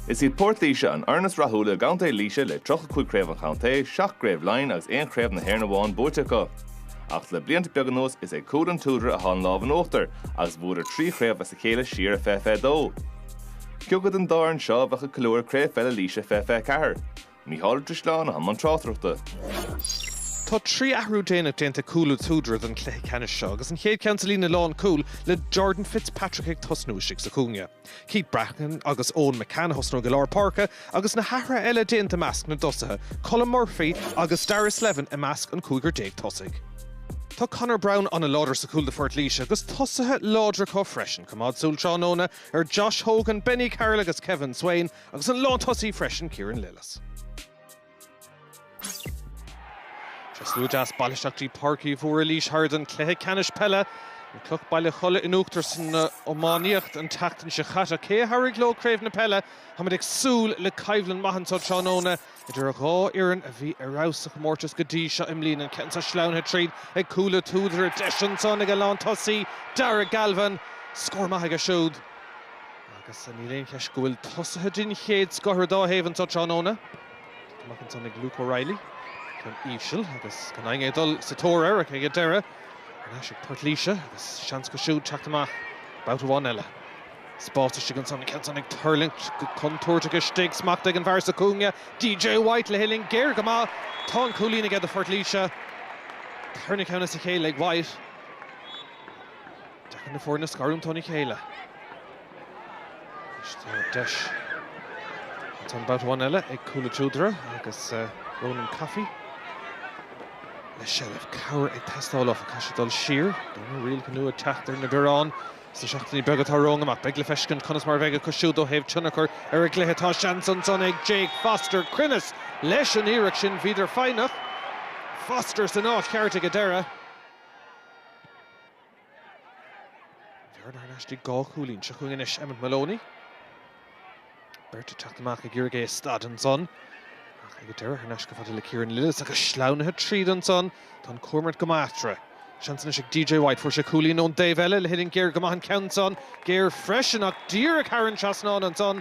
Is iad Port Laoise an fhoireann is rathúla i gContae Laoise le 35 Craobh an Chontae, 7 gCraobh Laighean agus aon Chraobh na hÉireann amháin buaite acu. Ach le blianta beaga anuas is ag Cúl an tSúdaire atá an lámh in uachtar agus bhuadar trí chraobh as a chéile siar i 2022. Cé acu den dá fhoireann seo a bheadh ag ceiliúradh Craobh Pheile Laoise 2024. Mícheál Ó Drisleáin i mbun tráchtaireachta. Tá trí athrú déanach déanta ag Cúl an tSúdaire don chluiche ceannais seo agus an chéad cheann sa líne lán cúl le Jordan Fitzpatrick ag tosnú istigh sa chúinne. Keith Bracken agus Eoin McCann ag tosnú i lár páirce agus na hathruithe eile déanta i measc na dtosaithe, Colm Murphy agus Darragh Slevin i measc an cúigear déag tosaigh. Tá Conor Brown ana láidir sa chúl do Phort Laoise agus tosaithe láidre acu freisin, coimeád súil tráthnóna ar Josh Hogan, Benny Carroll agus Kevin Swayne Agus an lán tosaí freisin Kieran Lillis. Tá slua deas bailithe isteach go dtí Páirc Uí Mhórdha Laois Hire don cluiche ceannais peile, an Cloch Baile Cholla in uachtar san iománaíocht an tseachtain seo chaite. Cé a thabharfaidh leo craobh na peile? Táimid ag súil le coimhlint maith anso tráthnóna idir a dhá fhoireann a bhí ar fheabhas sa chomórtas go dtí seo i mbliana. An ceann seo sleamhnaithe tríd ag Cúl an tSúdaire. Deis ansan ag an lán tosaí. Darragh Galvin, scór maith aige siúd. Agus níl aon cheist go bhfuil tosaithe den chéad scoth ar dá thaobh anseo tráthnóna. Amach ansan ag Luke O'Reilly, ceann íseal agus gan éinne ag dul sa tóir air ach ag an deireadh. Thar n-ais ag Port Laoise agus seans acu siúd teacht amach babhta amháin eile. Spás istigh ansan, an ceann san ag tuirlingt go contúirteach istigh, smacht ag an bhfear sa chúinne, DJ White le huillinn géar go maith. Tá an cúilín aige do Phort Laoise. Tarna ceann as a chéile ag White. Deacair na foirne a scarúint óna chéile. Deis ansan babhta amháin eile ag Cúl an tSúdaire agus Ronan Coffey le seilbh. Cabhair ag teastáil áfach, caithfidh sé dul siar. Tá na rialacha nua ag teacht ar na bioráin sna seachtainí beaga atá romhainn amach. Beidh le feiscint conas mar a bheidh acu siúd ó thaobh tionchar ar an gcluiche. Tá seans ansan ag Jake Foster. Cruinneas leis an iarracht sin. Bhíodar foighneach. Foster san áit cheart ag an deireadh. Bearna anois de dhá chúilín. Seo chugainn anois, Emmet Moloney. Beirt ag teacht amach ag iarraidh é a stad ansan. Ach ag an deireadh thar n-ais chomh fada le Kieran Lillis agus sleamhnaithe tríd ansan. Tá an comhimirt go maith eatarthu. Seans anois ag DJ White. Fuair sé cúilín ón dtaobh eile le huillinn géar go maith an ceann san. Géar freisin ach díreach thar an trasnán ansan.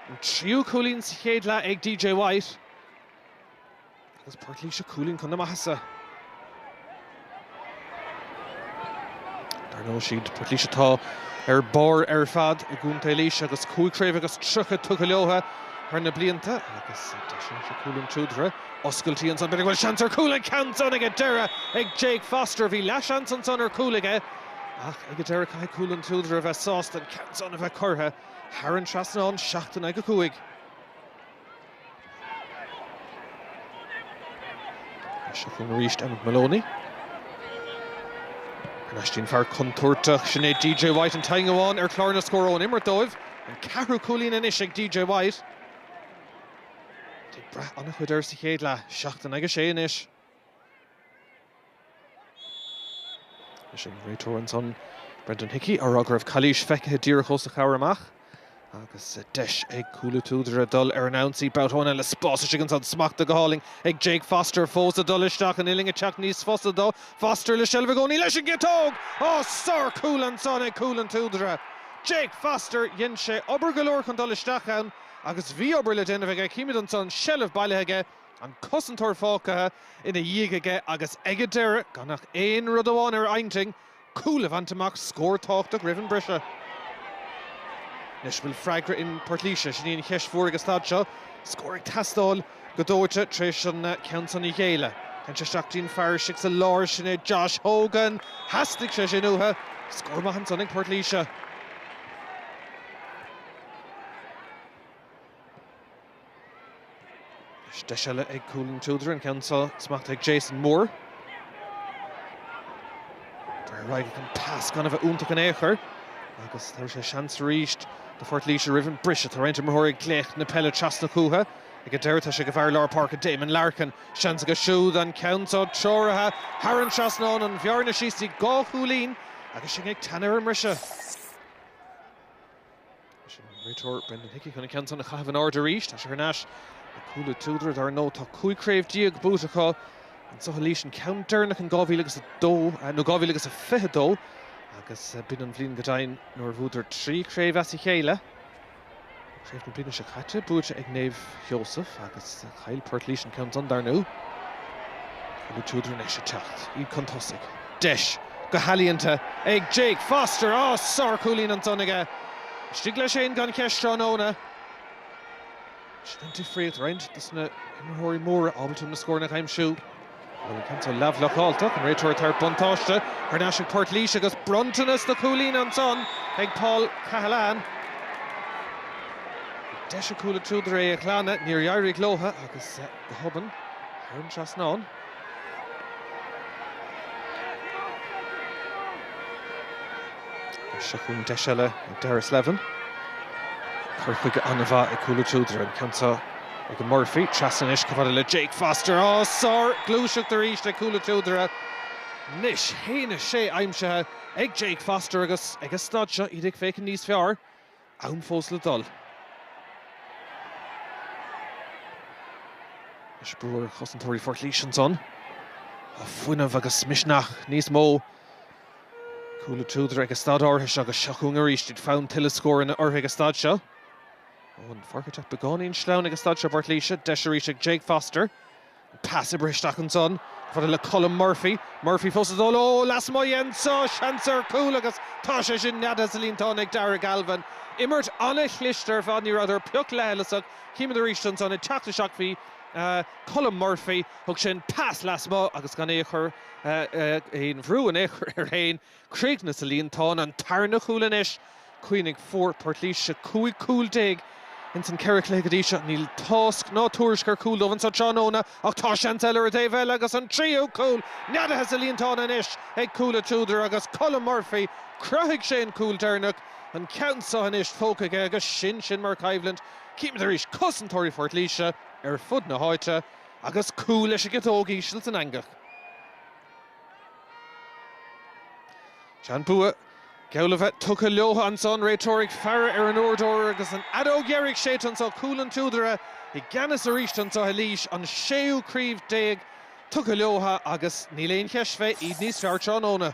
An tríú cúilín sa chéad leath ag DJ White. Agus Port Laoise cúilín chun na maitheasa. Dar ndóigh, siad Port Laoise atá ar barr ar fad i gContae Laoise agus cúig chraobh agus tríocha tugtha leotha thar na blianta agus deis anso ag Cúil an tSúdaire. Oscailtí ansan, b'fhéidir go bhfuil seans ar chúl an ceann san ag an deireadh ag Jake Foster. Bhí leathsheans ansan ar chúl aige ach ag an deireadh caithfidh Cúil an tSúdaire a bheith sásta an ceann san a bheith curtha thar an trasnán, seacht in aghaidh a cúig. Seo chugainn arís Emmet Moloney. Anois go dtí an fear contúirteach sin é DJ White an t-éinne amháin ar chlár na scór ón imirt dóibh. An ceathrú cúilín anois ag DJ White. Ag brath an-chuid air sa chéad leath. Seacht in aghaidh a 6 anois. Agus an réiteoir ansan, Brendan Hickey, á rá go raibh calaois feicthe díreach os a chomhair amach agus deis ag Cúil an tSúdaire dul ar an ionsaí. Babhta amháin eile spás istigh ansan smachta go hálainn ag Jake Foster fós ag dul isteach an uillinn ag teacht níos fusa dó. Foster le seilbh i gcónaí leis an gciotóg! Á, sár chúl ansan ag Cúil an tSúdaire! Jake Foster, dhein sé obair go leor chun dul isteach ann agus bhí obair le déanamh aige, címid ansan seilbh bailithe aige, An cosantóir fágtha ina dhiaidh aige agus ag a deireadh gan ach aon rud amháin ar a intinn, cúl a bhaint amach, scór tábhachtach roimh an briseadh. Anois an bhfuil freagra in Port Laoise, sin í an cheist mhór ag an staid seo. Scór ag teastáil go dóite tar éis an ceann san a ghéilleadh. Téann sé isteach go dtí an fear istigh sa lár, sin é Josh Hogan. Theastaigh sé sin uathu. Scór maith ansan ag Port Laoise. Deis eile ag Cúil an tSúdaire, an ceann seo smachta ag Jason Moore. Dar ar aghaidh an pas gan a bheith iontach in aon chor agus tá sé seans arís do Phort Laoise roimh an briseadh. Tá roinnt imreoirí ag glaoch na peile trasna chucu ag an deireadh. Tá sé ag an bhfear lár páirce, Damon Larkin. Seans aige siúd, an ceann seo treoraithe thar an trasnán, an bhearna síos go dtí dhá chúilín agus sinn ag teannadh ar an mbriseadh. Agus an réiteoir Brendan Hickey chun an ceann san a chaitheamh in airde arís. Tá sé thar n-ais le Cúil an tSúdaire, dar ndóigh tá 15 craobh buaite acu. Anseo i Laois an ceann deireanach in 2002 nó 2022 agus b'in an bhliain go deimhin nuair a bhuadar trí chraobh as a chéile. Tá craobh na bliana seo caite buaite ag Naomh Sheosaimh agus chaill Port Laoise an ceann san dar ndóigh. Cúil an tSúdaire anois ag teacht. Iad chun tosaigh. Deis go healaíonta ag Jake Foster. Á! Sár chúilín ansan aige. Istigh leis fhéin gan cheist tráthnóna. Sin an difríocht. Roinnt dos na himreoirí móra ábalta na scóranna a aimsiú. Bhuel an t-ionsaí leathbhlocálta ach an réiteoir tabhairt buntáiste thar n-ais ag Port Laoise agus bronntanas de chúilín ansan ag Paul Cahillane. Bhí deis ag Cúil an tSúdaire é a ghlanadh, níor éirigh leo agus go hobann, thar an trasnán, Seo chugainn deis eile ag Darragh Slevin. Cur chuige an-mhaith ag Cúil an tSúdaire. An ceann seo ag Murphy. Trasna anois, chomh fada le Jake Foster. Á! Sárghluaiseacht arís ag Cúil an tSúdaire. Anois a 1 a 6 aimsithe ag Jake Foster agus ag an staid seo iad ag féachaint níos fearr. Am fós le dul is brú ar chosantóirí Phort Laoise ansan. Tá fuinneamh agus misneach níos mó Cúil an tSúdaire ag an staid áirithe seo agus seo chugainn arís iad. Fonn tuilleadh scóranna orthu ag an staid seo. An pháirc ag teacht beagáinín sleamhain ag an staid seo Phort Laoise. Deis arís ag Jake Foster. Pas oibrithe isteach ansan chomh fada le Colm Murphy. Murphy fós ag dul ó lasmuigh de anso seans ar chúl agus tá sé sin neadaithe sa líontán ag Darragh Galvin. Imirt an-chliste ar fad, ní rabhadar pioc leithleasach. Chímid arís ansan ag teacht isteach bhí Colm Murphy. Thug sin pas lasmuigh agus gan aon chor aon bhrú in aon chor air féin. Críochnaigh sa líontán, an tarna cúl anois. Cuimhnigh fuair Port Laoise 15 cúl ins an ceithre chluiche go dtí seo. Níl tásc ná tuairisc ar chúl dóibh anso tráthnóna ach tá seans eile ar an dtaobh eile agus an tríú cúl neadaithe sa líontán anois ag Cúil an tSúdaire agus Colm Murphy. Chruthaigh sé an cúl deireanach, an ceann seo anois tógtha aige agus sin sin mar choimhlint. Chímid arís cosantóirí Phort Laoise ar fud na háite agus cúl leis an gciotóg íseal san eangach. Tá an bua geall le bheith tugtha leotha anso, an réiteoir ag faire ar an uaireadóir agus an fheadóg dheiridh séidte anso, Cúil an tSúdaire i gceannas arís anso i Laois, an séú craobh déag tugtha leotha agus níl aon cheist fé iad níos fearr tráthnóna.